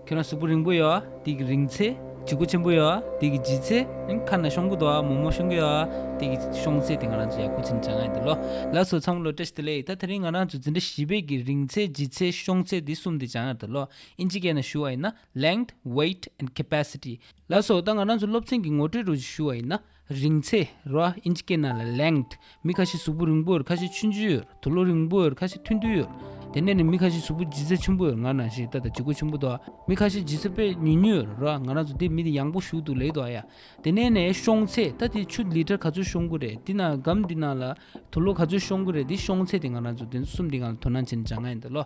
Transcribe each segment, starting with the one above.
ཁྱོད་རང་གཟུགས་པོ་རིང་པོ་ཡོད་དེ་གི་རིང་ཚེ་བྱི་གུ་ཆེན་པོ་ཡོད་དེ་གི་བྱི་ཚེ་ཁ་ན་གཤོང་གུ་དོ་མོ་མོ་གཤོང་གུ་ཡོད་དེ་གི་གཤོང་ཚེ་དེ་ང་རང་ཚོ་ཡག་པོ་ཚིག་འཇགས་ཡོད་དེ་ལོ་ལགས་སོ་ཚང་མ་ལོ་ཏྲེས་དེ་ལས་ད་ཐེ་རིང་ང་རང་ཚོ་འཛིན་གྲྭ་བཞི་པའི་གི་རིང་ཚེ་བྱི་ཚེ་གཤོང་ཚེ་དེ་གསུམ་དེ་འཇགས་ཡོད་དེ་ལོ་ཨིན་ཇི་སྐད་ནང་ཞུ་བ་ཡིན་ན length weight and capacity ལགས་སོ་ད་ང་རང་ཚོ་སློབ་ཚན་གི་ངོ་སྤྲོད་རུ་ཞུ་བ་ཡིན་ན་རིང་ཚད་རོའི་ཨིན་ཇི་སྐད་ནང་ལ length མི་ཁ་ཤས་གཟུགས་པོ་རིང་པོ་ཡོད་ཁ་ཤས་ཆུ་མཇུག་ཡོད་དུ་ལོ་རིང་པོ་ཡོད་ཁ་ཤས་ཐུང་ཐུང་ཡོད། དེ་ནས་ནི་མི་ཁ་ཤས་གཟུགས་པོ་ལྗིད་ཚད་ཆུང་པོ་ཡོད་ང་རང་ཞིག་ད་ལྟ་ལྗིད་གོ་ཆུང་པོ་འདུག་མི་ཁ་ཤས་ལྗིད་ཚད་དཔེ་ཉུང་ཉུང་ཡོད་རོ་ང་རང་ཚོ་འདི་མི་འདི་ཡང་པོ་བཞུགས་འདུག་ལེགས་འདུག་ཨ་ཡ། དེ་ནས་ནི་ཤོང་ཚད་ད་དེ་ཆུ་ལི་ཏྲ་ག་ཚོད་ཤོང་གི་རེད་འདི་ནང་སྒམ་འདི་ནང་ལ་དུ་ལོ་ག་ཚོད་ཤོང་གི་རེད་འདི་ཤོང་ཚད་དེ་ང་རང་ཚོ་འདི་གསུམ་འདི་ང་ལ་དོ་སྣང་བྱེད་ནི་ཅང་ང་ཡིན་འདུག་ལོ།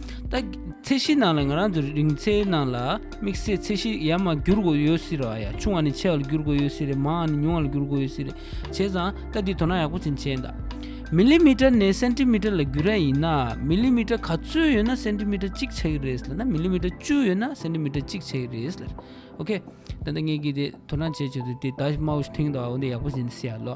ད་ཚད་གཞིའི་ནང་ལ་ང་རང་ཚོ་རིང་ཚད་ནང་ལ་དམིགས་བསལ་ཚད་གཞི་ཡར་མར་འགྱུར་དགོས་ཡོད་སྲིད་ར་ཡ་ཆུང་བ་ནས་ཆེ་བ་ལ་འགྱུར་དགོས་ཡོད་སྲིད་རེད་མང་བ་ནས་ཉུང་བ་ལ་འགྱུར་དགོས་ཡོད་སྲིད་རེད་བྱས་ཙང་ད་འདི་དོ་སྣང་ཡག་པོ་ཅན་བྱས་འདག་མི་ལི་མི་ཏྲ་ནས་སན་ཏི་མི་ཏྲ་ལ་འགྱུར་ར་ཡིན་ན་མི་ལི་མི་ཏྲ་ག་ཚོད་ཡོད་ན་སན་ཏི་མི་ཏྲ་གཅིག་ཆགས་ཀྱི་རེད་ལ་ན་མི་ལི་མི་ཏྲ་བཅུ་ཡོད་ན་སན་ཏི་མི་ཏྲ་གཅིག་ཆགས་ཀྱི་རེད་ལ་ཨོ་ཁེ་ད་ནི་ངས་ཀྱིས་དེ་དོ་སྣང་བྱས་བྱས་ཏེ་དེ་ད་མའོ་ཞིག་ཐེང་དང་འོ་འདི་ཡག་པོ་ཟིན་ཟེར་ཡག་ལོ་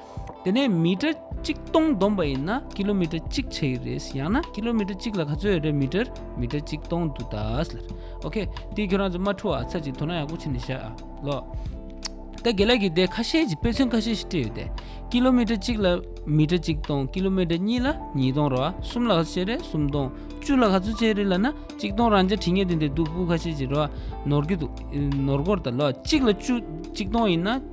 དེ་ནས་མི་ཀྲ་གཅིག་སྟོང་བསྡོམས་པ་ཡིན་ན་ཀི་ལོ་མི་ཀྲ་གཅིག་བྱེད་ཀྱི་རེད། ཡང་ན་ཀི་ལོ་མི་ཀྲ་གཅིག་ལ་ག་ཚོད་ཡོད་རེད་མི་ཀྲར་མི་ཀྲ་གཅིག་སྟོང་དུ་ད་ལ། ཨོ་ཁེ། དེ་ཁྱོད་རང་ཚོ་མ་འཁྲུལ་བ་ཚར་གཅིག་དོ་སྣང་ཡག་པོ་བྱེད་ནས་བཞག་ཨ། ལོ། ད་དགེ་ལགས་ཀྱིས་དེ་ཁ་ཤས་ཀྱི་དཔེ་མཚོན་ཁ་ཤས་ཤིག་སྤྲད་ཡོད་དེ། ཀི་ལོ་མི་ཀྲ་གཅིག་ལ་མི་ཀྲ་གཅིག་སྟོང་ཀི་ལོ་མི་ཀྲ་གཉིས་ལ་གཉིས་སྟོང་རོ། གསུམ་ལ་ག་ཚོད་བྱེད་རེད་གསུམ་སྟོང། བཅུ་ལ་ག་ཚོད་བྱེད་རེད་ལ་ན་གཅིག་སྟོང་རང་རྐྱ་བྲིས་ངེས་དེ་འདྲས་འདུག་སྤུས་ཁ་ཤས་ཀྱི་རོ། ནོར་གྱི་འདུག། ནོར་གོར་ད་ལོ། གཅིག་ལ་བཅུ་གཅིག་སྟོང་ཡིན་ན།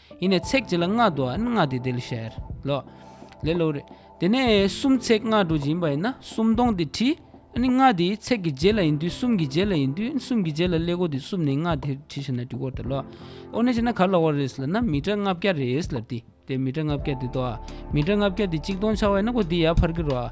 ཡེ་ནས་ཚེགས་བཅད་ལ་ལྔ་བསྡུ་བ་ནི་ལྔ་སྟེ་དེ་ལས་ཤར་ལོ། ལེ་ལོ། རེ། དེ་ནས་གསུམ་ཚེགས་ལྔ་དྲུག་ཅིག་ཡིན་པ་ཡིན་ན་སུམ་སྟོང་སྟེ་ཁྲི། ནི་ལྔ་དེ་ཚེགས་ཀྱི་བརྒྱད་ལ་ཡིན་དུས་གསུམ་གྱི་བརྒྱད་ལ་ཡིན་དུས་གསུམ་གྱི་བརྒྱད་ལ་ལེ་གོ་དེ་གསུམ་ནི་ལྔ་དེར་ཁྲི་ཤར་ན་དུས་འཁོར་དེ་ལོ། འོ་ན་ཅི་ན་གར་ལ་བ་རེས་ལ་ན་མི་ཏྲ་ལྔ་བརྒྱ་རེས་ལ་དེ་དེ་མི་ཏྲ་ལྔ་བརྒྱ་དེ་དོ། མི་ཏྲ་ལྔ་བརྒྱ་དེ་གཅིག་སྟོང་ཆ་བ་ཡིན་ན་གོ་དེ་ཡར་འཕར་གི་རོ།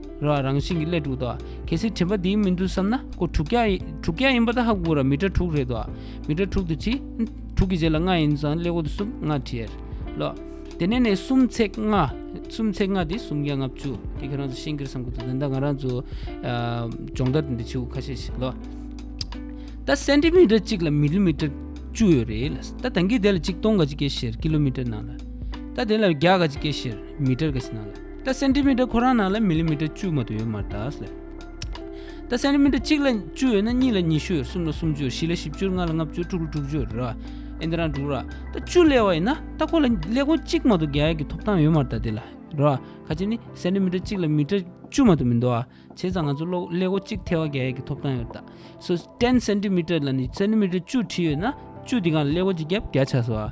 ར་བ་རང་བཞིན་གྱི་སླེ་དྲུག་ཏོ། གལ་སྲིད་དྲི་བ་འདིའི་མི་འདུག་བསམ་ན་སྐུ་དྲུག་བརྒྱ། དྲུག་བརྒྱ་ཡིན་པ་ད་ཧ་གོ་ར་མི་དྲ་དྲུག་རེད་དོ། མི་དྲ་དྲུག་དུ་ཕྱིས། དྲུག་གི་རྗེས་ལ་ལྔ་ཡིན་ཙང་སླེ་གོ་དུ་སུམ་ལྔ་དྲི་ཡར་ལོ། དེ་ནས་ནས་སུམ་ཚེག་ལྔ། སུམ་ཚེག་ལྔ་དེ་སུམ་བརྒྱ་ལྔ་བཅུ། དེ་ཁྱོད་རང་ཚོ་ཤེས་གི་ར་བསམ་གོ་དུ་འདི་འདྲ་ང་རང་ཚོ། སྦྱོང་བརྡར་འདི་འདྲ་བྱེད་གོ་ཁ་ཤས་ཤིག་ལོ། ད་སན་ཏི་མི་ཏྲ་གཅིག་ལ་མི་ལི་མི་ཏྲ་བཅུ་ཡོད་རེད་ལ། ད་དེང་གི་དེ་ལ་ཅིག་སྟོང་ག་ཅིག་སྐྱེ་ཤེར་ཀི་ལོ་མི་ཏྲ་ནང་ལ། ད་དེ་ལ་བརྒྱ་ག་ཅིག་སྐྱེ་ཤེར་མི་ཏྲར་ག་ཤི་ནང་ལ། ད་སེན་ཏི་མི་ཏྲ་ཁོ་རང་ནང་ལ་མི་ལི་མི་ཏྲ་བཅུ་མ་དོ་ཡོད་མ་ད་ལ། ད་སེན་ཏི་མི་ཏྲ་གཅིག་ལ་བཅུ་ཡོད་ན་གཉིས་ལ་ཉི་ཤུ་གསུམ་ལ་སུམ་ཅུ་བཞི་ལ་བཞི་བཅུ་ལྔ་ལ་ལྔ་བཅུ་དྲུག་ལ་དྲུག་ཅུ་རེད་བ། ཨེ་འདི་རང་འགྲུག་ར། ད་བཅུ་ལས་བ་ཡིན་ན་ད་ཁོ་ལ་ལས་ཁོང་གཅིག་མ་དོ་བརྒྱ་ཡས་ཀྱི་ཐོབ་ཐང་ཡོད་མ་ད་དེ་ལ། རེད་བ། ཁ་ཅིག་ནི་སེན་ཏི་མི་ཏྲ་གཅིག་ལ་མི་ཏྲ་བཅུ་མ་དོ་མི་འདོ་བ། བྱས་ཙང་ང་ཚོ་ལོ་ལས་ཁོ་གཅིག་ཐལ་བ་བརྒྱ་ཡས་ཀྱི་ཐོབ་ཐང་ཡོད་ད། སོ་ཏན་སེན་ཏི་མི་ཏྲ་ལ་ནི་སེན་ཏི་མི་ཏྲ་བཅུ་བྲིས་ཡོད་ན་བཅུ་དེ་གང་ལ་ལས་ཁོ་གཅིག་བརྒྱ་བརྒྱ་ཆགས་སོ་བ།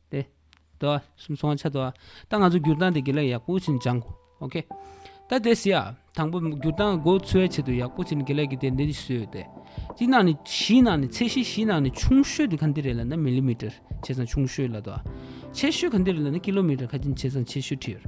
ཏེ། དོ། སུམ་ཚོང་ཆ་དོ། ད་ང་ཚོ་སྒྱུར་སྟངས་དེ་དགེ་ལེགས་ཡག་པོ་ཕྱིན་སྦྱང་གོ། ཨོ་ཁེ། ད་དེ་སི་ཨ། དང་པོ། སྒྱུར་སྟངས་སྒོ་འཚོལ་བའི་ཆེད་དུ་ཡག་པོ་ཕྱིན་དགེ་ལེགས་ཀྱི་རྟེན་འབྲེལ་གྱི་སུའི་ཡོད་དེ། གཅིག་ནང་ནས་བཞི་ནང་ནས་ཚད་གཞི་བཞི་ནང་ནས་ཆུང་ཤོས་དེ་ག་འདི་རེད་ལ་ན་མིལི་མི་ཏར་ཆེ་ཚང་ཆུང་ཤོས་ལ་དོ། ཆེ་ཤོས་ག་འདི་རེད་ལ་ན་ཀི་ལོ་མི་ཏར་ཁ་ཅིན་ཆེ་ཚང་ཆེ་ཤོས་ཁྲི་ཡོད།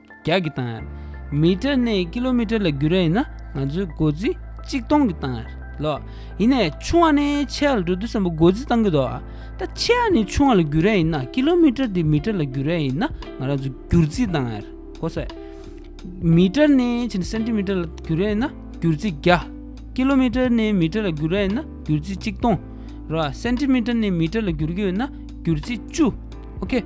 རྒྱག་གི་གཏང་ཡར། མི་ཏྲ་ནས་ཀི་ལོ་མི་ཏྲ་ལ་བརྒྱུད་ར་ཡིན་ན་ང་ཚོའི་སྒོ་རྩིས་གཅིག་གཏོང་གི་གཏང་ཡར་ལོ། ཡིན་ནས་ཆུང་བ་ནས་ཆེ་བ་ལ་འགྲོ་དུས་སམ་སྒོ་རྩིས་གཏང་གི་འདོ། ད་ཆེ་བ་ནས་ཆུང་བ་ལ་བརྒྱུད་ར་ཡིན་ན་ཀི་ལོ་མི་ཏྲ་དེ་མི་ཏྲ་ལ་བརྒྱུད་ར་ཡིན་ན་ང་རང་ཚོ་བརྒྱུར་རྩིས་གཏང་ཡར་གོ་ས། མི་ཏྲ་ནས་ཕྱིན་སན་ཏི་མི་ཏྲ་ལ་བརྒྱུད་ར་ཡིན་ན་བརྒྱུར་རྩིས་བརྒྱ། ཀི་ལོ་མི་ཏྲ་ནས་མི་ཏྲ་ལ་བརྒྱུད་ར་ཡིན་ན་བརྒྱུར་རྩིས་གཅིག་གཏོང་ར། སན་ཏི་མི་ཏྲ་ནས་མི་ཏྲ་ལ་བརྒྱུར་གི་ཡོད་ན་བརྒྱུར་རྩིས་བཅུ། ཨོ་ཁེ།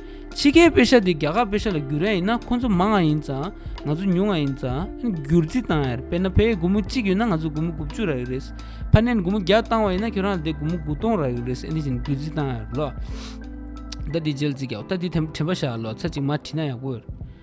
ཕྱི་རྒྱལ་དཔེ་ཆ་དེ་རྒྱ་གར་དཔེ་ཆ་ལ་བསྒྱུར་རན་ཡིན་ན་ཁོ་ཚོ་མང་ང་ཡིན་ཙང་ང་ཚོ་ཉུང་ང་ཡིན་ཙང་བསྒྱུར་རྩིས་བཏང་ཡར་དཔེར་ན་བོད་དགུ་མོ་གཅིག་ཡོད་ན་ང་ཚོ་དགུ་མོ་དགུ་བཅུ་རག་གི་རེད་ཕ་ནན་དགུ་མོ་བརྒྱ་བཏང་བ་ཡིན་ན་ཁྱོད་རང་ལ་དེ་དགུ་མོ་དགུ་སྟོང་རག་གི་རེད་ཟེར་འདི་བཞིན་བསྒྱུར་རྩིས་བཏང་ཡར་ལོ་ད་འདི་འཇལ་རྩིས་རྒྱག་ད་འདི་དྲན་པ་བཞག་ལོ་ཚ་གཅིག་མ་བྲིས་ན་ཡག་པོ་ཡོད།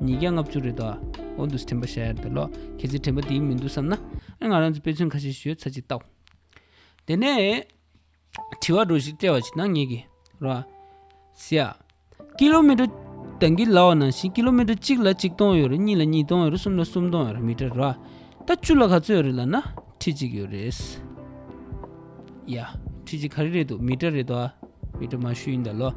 ཉིས་བརྒྱ་ལྔ་བཅུ་རེད་ད། ཨོ་འདུག་དྲན་པ་བྱ་ཡར་འདི་ལོག་ཁྱེད་ཚོའི་དྲན་པ་དེ་ཡིན་མི་འདུག་བསམ་ན། ཨེ་ང་རང་ཚོ་དཔེ་མཚོན་ཁ་ཤས་ཞུས་ཚར་ཅིག་ལྟ། དེ་ནས། དྲི་བ་འགྲོ་ཞིག་བཀྲལ་བ་ཅིག་གནང་ངེས་ཀྱི་རོ། ཟེར་ཡ། ཀི་ལོ་མི་ཀྲོ། དང་གི་ལའོ་ནང་བཞིན་ཀི་ལོ་མི་ཀྲོ་གཅིག་ལ་གཅིག་སྟོང་ཡོད་རེད་གཉིས་ལ་གཉིས་སྟོང་ཡོད་རེད་གསུམ་ལ་གསུམ་སྟོང་ཡོད་རེད་མི་ཀྲོ་རོ། ད་བཅུ་ལ་ག་ཚོད་ཡོད་རེད་ལབ་ན་ཁྲི་གཅིག་ཡོད་རེད། ཡ། ཁྲི་གཅིག་ག་རེ་རེད་འདུག་མི་ཀྲོ་རེད་ད། མི་ཀྲོ་མ་ཞུས་ཡིན་ད་ལོག།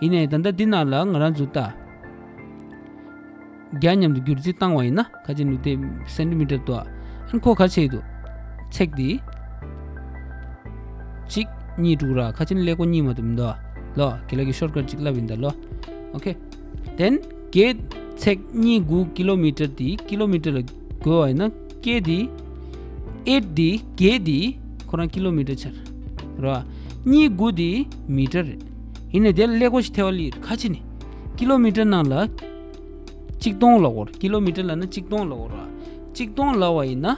ཡིན་ནའི་ད་ལྟ་འདི་རྣམས་ལ་ང་རང་ཚོས་རྟ་རྒྱ་མཉམ་དུ་སྒྱུར་རྩིས་བཏང་བ་ཡིན་ན་ཁ་ཆེ་ནུས་ལྡན་སེ་འབྲུ་མི་འདྲ་ལྟོ་ཨན་ཁོ་ག་ཆེད་དུ་ཚེག་འདི་གཅིག་གཉིས་དྲུག་ར་ཁ་ཆེ་ནི་ལེགས་པོ་གཉིས་མ་དུ་མི་འདོ་ལོ་གི་ལ་གི་ཤོར་ཀར་གཅིག་ལབ་ཡིན་ད་ལོ་ཨོ་ཁེ་དེན་གེ་ཚེག་གཉིས་དགུ་ཀི་ལོ་མི་ཏྲར་དེ་ཀི་ལོ་མི་ཏྲར་ལ་བགོས་བ་ཡིན་ན་ཀེ་དེ་ཨེད་དེ་གེ་དེ་ཁོ་རང་ཀི་ལོ་མི་ཏྲར་ཆར་རོ་གཉིས་དགུ་དེ་མི་ཏྲར་རེད། ཡིན་ནས་དེ་ལ་ཀླད་ཀོར་ཞིག་ཐེ་བ་ལི་ཁ་ཆེ་ནི་ཀི་ལོ་མི་ཀྲི་ནང་ལ་གཅིག་སྟོང་ལ་བོར་ཀི་ལོ་མི་ཀྲི་ལ་ན་གཅིག་སྟོང་ལ་བོར་བ་གཅིག་སྟོང་ལ་བ་ཡིན་ན་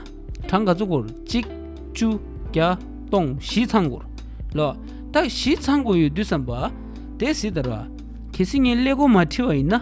གྲངས་ག་ཚོད་བསྐོར་གཅིག་བཅུ་བརྒྱ་སྟོང་བཞི་ཚང་བསྐོར་ལ་རྟགས་བཞི་ཚང་བསྐོར་ཡོད་དུས་སམ་བ་དེ་བཟི་དར་བ་གལ་སྲིད་ངས་ཀླད་ཀོར་མ་ཁྲི་བ་ཡིན་ན།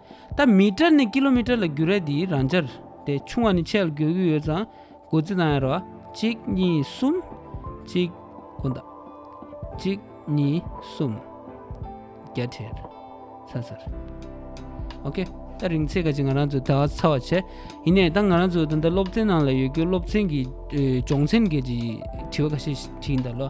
ད་མི་ཀྲ་ནི་ཀི་ལོ་མི་ཀྲ་ལ་རྒྱུ་ར་དེའི་རང་ཅར་དེ་ཆུང་བ་ནི་ཆད་ལ་འགྱོད་གི་ཡོད་ཙང་སྒོ་རྩི་གནང་ཡ་རོ་ཨ་གཅིག་གཉིས་གསུམ། གཅིག། གོ་འདའ། གཅིག་གཉིས་གསུམ། བརྒྱ་ཁྲིར། ཚར་ཚར། ཨོ་ཁེ། ད་རིང་ཚེ་ག་ཅིག་ང་རང་ཚོ་ད་ཚ་བ་བྱས། ཡིན་ནས་ད་ང་རང་ཚོ་ད་ལྟ་སློབ་ཚན་ནང་ལ་ཡོད་རྒྱུ་སློབ་ཚན་གྱི་སྦྱོང་ཚན་གྱི་དྲི་བ་ཁ་ཤས་དྲིས་འདའ་ལོ།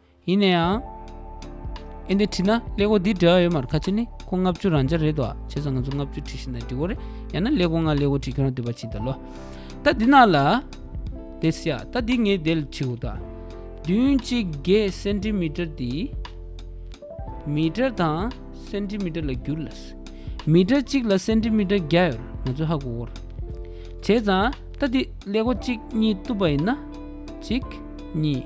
ཡིན་ན་ཡང། ཨེ་འདི་བྲིས་ན་ཀླད་ཀོར་འདི་འབྲེལ་བ་ཡོད་མ་རེད་ཁ་ཆེ་ནི་ཁོ་ལྔ་བཅུ་རང་འཇགས་རེད་དོ་བྱས་ཙང་ང་ཚོ་ལྔ་བཅུ་བྲིས་ཤིང་དང་འབྲི་གོ་རེད་ཡང་ན་ཀླད་ཀོར་ང་ཀླད་ཀོར་བྲིས་ཁྱོད་རང་འདོད་པ་བྱིས་དང་ལོ། ད་འདི་ནང་ལ། འདི་སྲིད་ཨ་ད་འདི་ངས་བདེ་ལ་བྲིས་འོ་ད། བདུན་གཅིག་བརྒྱད་སེནྟིམིཏར་འདི། མིཏར་དང་སེནྟིམིཏར་ལ་བསྒྱུར་ལ། མིཏར་གཅིག་ལ་སེནྟིམིཏར་བརྒྱ་ཡོད་རེད་ང་ཚོས་ཧ་གོ་གོ་རེད། བྱས་ཙང་ད་འདི་ཀླད་ཀོར་གཅིག་གཉིས་གཏུབ་པ་ཡིན་ན། གཅིག་གཉིས།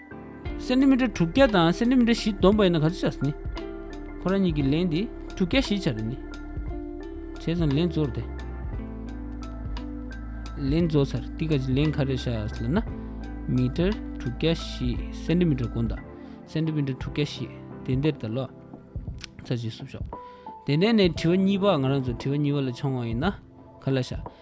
སེན་ཏི་མི་ཏྲ་དྲུག་བརྒྱ་དང་སེན་ཏི་མི་ཏྲ་བཞི་བསྡོམས་པ་ཡིན་ན་ག་ཚོད་བྱ་སྲིད། ཁོ་རང་གཉིས་ཀྱི་ལན་དེ་དྲུག་བརྒྱ་བཞི་བྱ་རེད། བྱས་ཙང་ལན་བཟོ་རེད། ལན་བཟོ་ཚར་ཏི་ག་ཅིག་ལན་ག་རེ་བྱ་ཟེར་ན། མི་ཏྲ་དྲུག་བརྒྱ་བཞི་སེན་ཏི་མི་ཏྲ་དགུ་འདག་སེན་ཏི་མི་ཏྲ་དྲུག་བརྒྱ་བཞི་དེ་འདེར་ད་ལོག། ཚར་གཅིག་བསུབ་ཤོག། དེ་ནས་ནས་དྲི་བ་གཉིས་པ་ང་རང་ཚོ་དྲི་བ་གཉིས་པ་ལ་མཆོང་བ་ཡིན་ན་ག་ལ་བྱ།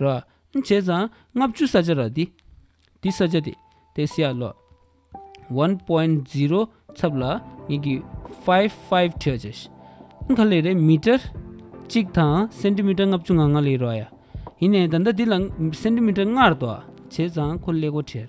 ར། བྱས་ཙང་ལྔ་བཅུ་ས་ཆ་ར། འདི་ས་ཆ་དེ་ཏེ་སེ་ཡ་ལོ། ཝན་པོན་ཛི་རོ་ཚབ་ལ་ངེས་ཀྱི། ཧྥའི་ཧྥའི་ཁྲེ་ཅེ་ཤི། ཁ་ལེ་རེ་མི་ཏྲར། གཅིག་དང་སེན་ཏི་མི་ཏྲར་ལྔ་བཅུ་ང་ལྔ་ལེ་རོ་ཡ། ཡིན་ནའི་ད་ལྟ་འདི་ལ་སེན་ཏི་མི་ཏྲར་ལྔར་དོ། བྱས་ཙང་ཁོ་ལེ་གོ་ཁྲེར།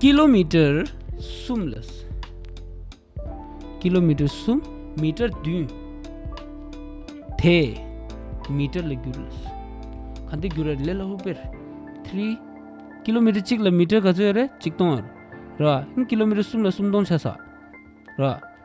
ཀི་ལོ་མི་ཀྲེར་གསུམ་ལ་ཀི་ལོ་མི་ཀྲེར་གསུམ་མི་ཀྲེར་བདུན། དེ་མི་ཀྲེར་ལ་བསྒྱུར། ག་འདི་བསྒྱུར་ར་ལེ་ལ་ཧུ་པེར་ཐི། ཀི་ལོ་མི་ཀྲེར་གཅིག་ལ་མི་ཀྲེར་ག་ཚོད་ཡོད་རེད་གཅིག་སྟོང་ཡོད་རེད། ཀི་ལོ་མི་ཀྲེར་གསུམ་ལ་སུམ་སྟོང་ཆ་ས་རེད།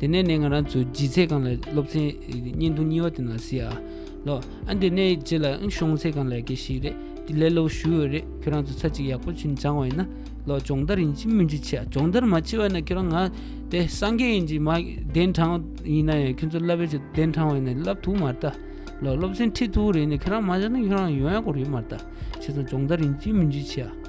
དེ་ནས་ནས་ང་རང་ཚོ་ལྗིད་ཚད་གང་ལ་སློབ་ཚན་བརྙན་ཐུང་གཉིས་བ་དེ་ན་སི་ཨ་ལོ་ཨ་འདི་ནས་རྗེས་ལ་ཨང་གཞུང་ཚད་གང་ལ་དགེ་ཞིག་རེད་དེ་ལས་སློབ་ཞུ་འོས་རེད་ཁྱོད་རང་ཚོ་ཚ་གཅིག་ཡག་པོ་ཆུན་འབྱང་བ་ཡིན་ན་ལོ་སྦྱོང་བརྡར་ཡིན་གཅིག་མིན་གཅིག་ཆེ་ཨ་སྦྱོང་བརྡར་མ་ཆེ་བ་ཡིན་ན་ཁྱོད་རང་ང་དེ་སངས་རྒྱས་ཡིན་གཅིག་མ་གདན་དྲངས་ཡིན་ན་ཡང་ཁྱོད་ཚོ་བསླབ་པའི་ཆེད་དུ་གདན་དྲངས་བ་ཡིན་ན་བསླབ་ཐུག་མ་རེད་ད་ལོ་སློབ་ཚན་ཁྲིད་ཐུག་རེད་ནས་ཁྱོད་རང་མ་སྦྱར་ན་ཁྱོད་རང་ཡོང་ཡག་པོ་རེད་མ་རེད་ད་ཁྱོད་ཚོ་སྦྱོང་བརྡར་ཡིན་གཅིག་མིན་གཅིག་ཆེ་ཨ།